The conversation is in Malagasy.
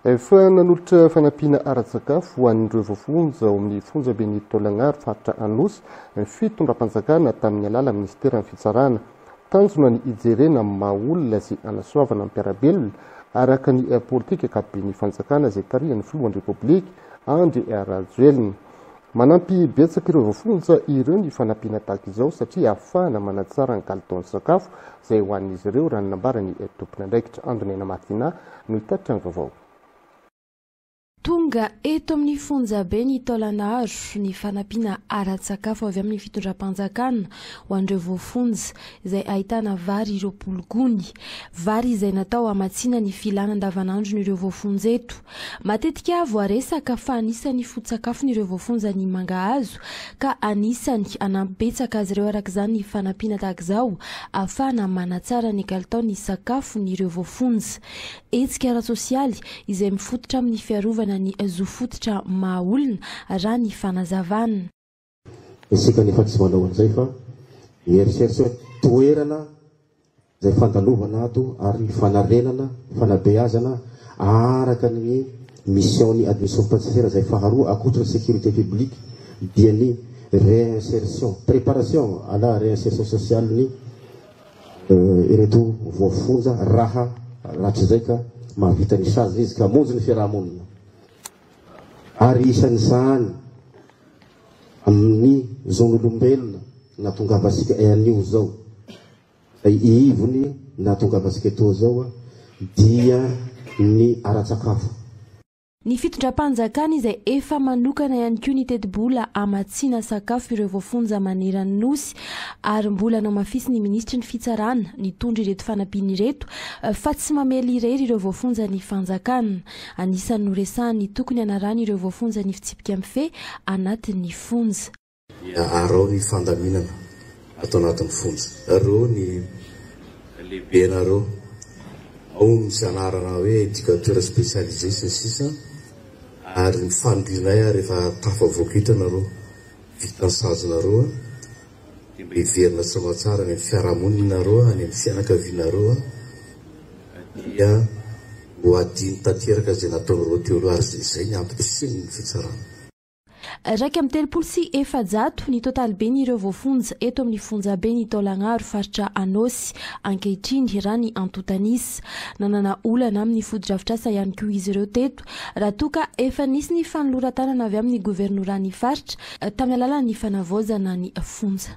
Efa nanolotra fanampiana ara-tsakafo ho an'ireo voafonja ao amin'ny fonjaben'i Taolagnaro faritra Anosy ny fitondram-panjakana tamin'ny alalan'ny minisiteran'ny fitsarana. Tanjona ny hijerena amin'ny maha olona sy hanasoavana ny mpiara-belona araka ny politika ankapoben'ny fanjakana izay tarihan'ny filohan'ny Repoblika Andry Rajoelina. Manampy betsaka ireo voafonja ireo ny fanampiana tahaka izao satria ahafahana manatsara ny kalitaon'ny sakafo izay ho an'izy ireo, raha ny nambaran'ny tompon'andraikitra. Andonay Namathina no hitatitra ny vaovao. Tonga eto amin'ny fonjabe ny taolan'aro ny fanampiana ara-tsakafo avy amin'ny fitondram-panjakana ho an'ireo voafonja, izay ahitana vary roapolo gony. Vary izay natao hamatsiana ny filana andavanandron'ireo voafonja eto. Matetika voaresaka fa anisan'ny foto-tsakafon'ireo voafonja ny mangahazo ka anisan'ny hanampy betsaka azy ireo araka izany ny fanampiana tahaka izao ahafahana manatsara ny kalitaon'ny sakafon'ireo voafonja. Hetsika ara-tsosialy izay mifototra amin'ny fiarovana ny zo fototra maha-olona, raha ny fanazavana. Isika anefa tsy manao an'izay fa mieritreritra hoe toerana izay fandalovana ato ary ny fanarenana, fanabeazana araka ny mission-n'ny administration penitentiaire izay faharoa ankoatra ny sécurité publique dia ny réinsertion, préparation à la réinsertion sociale-n'ny ireto voafonja raha rahatrizay ka mahavita ny sazy izy ka hamonjy ny fiaraha-monina. ary isan'izany amin'ny zon'olombelona nahatongavantsika anio izao, izay ivony nahatongavantsika etoa izao dia ny ara-tsakafo. Ny fitondram-panjakana izay efa manokana ihany koa ny tetibola hamatsiana sakafo ireo voafonja maneran'ny Nosy ary mbola namafisin'ny minisitry ny Fitsarana nitondra ireto fanampiana ireto fa tsy mamely irery ireo voafonja ny fanjakana. Anisan'ny noresahany tokony hanarahan'ireo voafonja ny fitsipika mifehy anatin'ny fonja. Dia arao ny fandaminana ato anatin'ny fonja. Reo ny lehibena reo. Ao ny misy anarana hoe educateur spécialisé sy ny sisa Ary ny fanirianay ary efa tafavoaka eto ianareo. Vitan'ny sazinareo. Dia mba hiverina soa tsara any amin'ny fiarahamoninareo, any amin'ny fianakavianareo aho, dia ho adino tanteraka izay nataonareo teo aloha, ary izay ny ampitrisihiny ny fitsarana. Iraika amby telopolo sy efajato ny totaliben' ireo voafonja eto amin'ny fonjaben' i Taolagnaro, faritra Anôsy, ankehitriny, raha ny antontanisa. Nanana olana amin'ny fotodrafitrasa ihany koa izy ireo teto. raha toa ka efa nisy ny fanoloran-tanana avy amin'ny governoran'ny faritra tamin'ny alalan'ny fanavaozana ny fonja.